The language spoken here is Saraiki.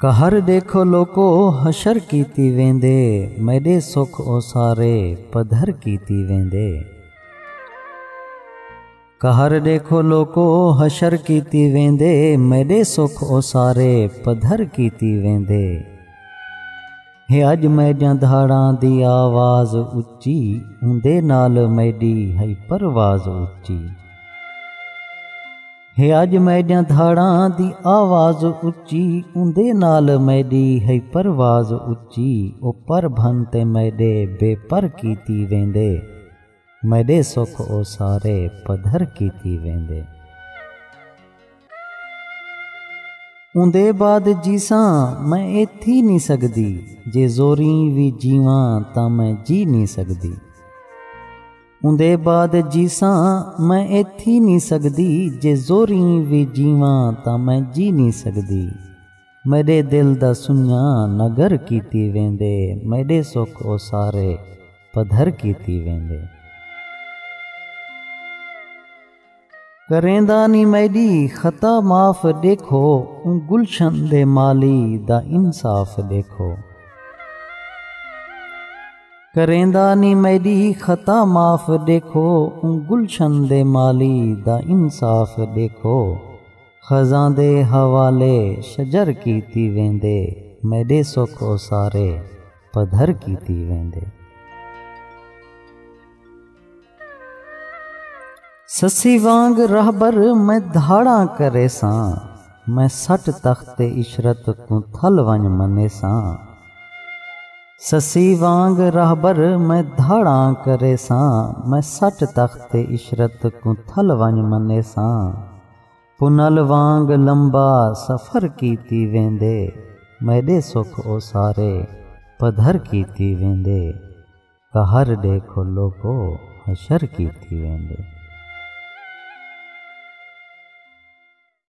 قہر ݙیکھو لوکو حشر کیتی ویندے میݙے سکھ اوسارے پدھر کیتی ویندے۔ قہر ڈیکھو لوکو حشر کیتی ویندے میڈے سکھ او سارے پدھر کیتی ویندے ہے اج میڈیاں دھاڑاں دی آواز اچی اوندے نال میڈی ہئی پرواز اچی ہے اج میڈیاں دھاڑاں دی آواز اچی اوندے نال میڈی ہئی پرواز اچی او پر بھن تے میڈے بے پر کیتی ویندے میݙے سکھ او سارے پدھر کیتی ویندے۔ اوندے بعد جیساں میں اے تھی نی سڳدی۔ جے زوریں وی جیواں تاں میں جی نی سڳدی۔ اوندے بعد جیساں میں اے تھی نی سڳدی۔ جے زوریں وی جیواں تاں میں جی نی سڳدی۔ میݙے دل دا سنڄاں نگر کیتی ویندے۔ میݙے سکھ او سارے۔ پدھر کیتی ویندے۔ کریندا نی میݙی خطا معاف ݙیکھو اوں گلشن دے مالی دا انصاف ݙیکھو۔ کریندا نی میݙی خطا معاف ݙیکھو اوں گلشن دے مالی دا انصاف ݙیکھو۔ خزاں دے حوالے شجر کیتی ویندے میݙے سکھ او سارے پدھر کیتی ویندے۔ سسی وانگ رہبر میں دھاڑاں کریساں میں سٹ تخت عشرت کوں تھل ونج منیساں۔ سسی وانگ رہبر میں دھاڑاں کریساں میں سٹ تخت عشرت کوں تھل ونج منیساں۔ پنل وانگ لمبا سفر کیتی ویندے میݙے سکھ او سارے پدھر کیتی ویندے قہر ݙیکھو لوکو حشر کیتی ویندے۔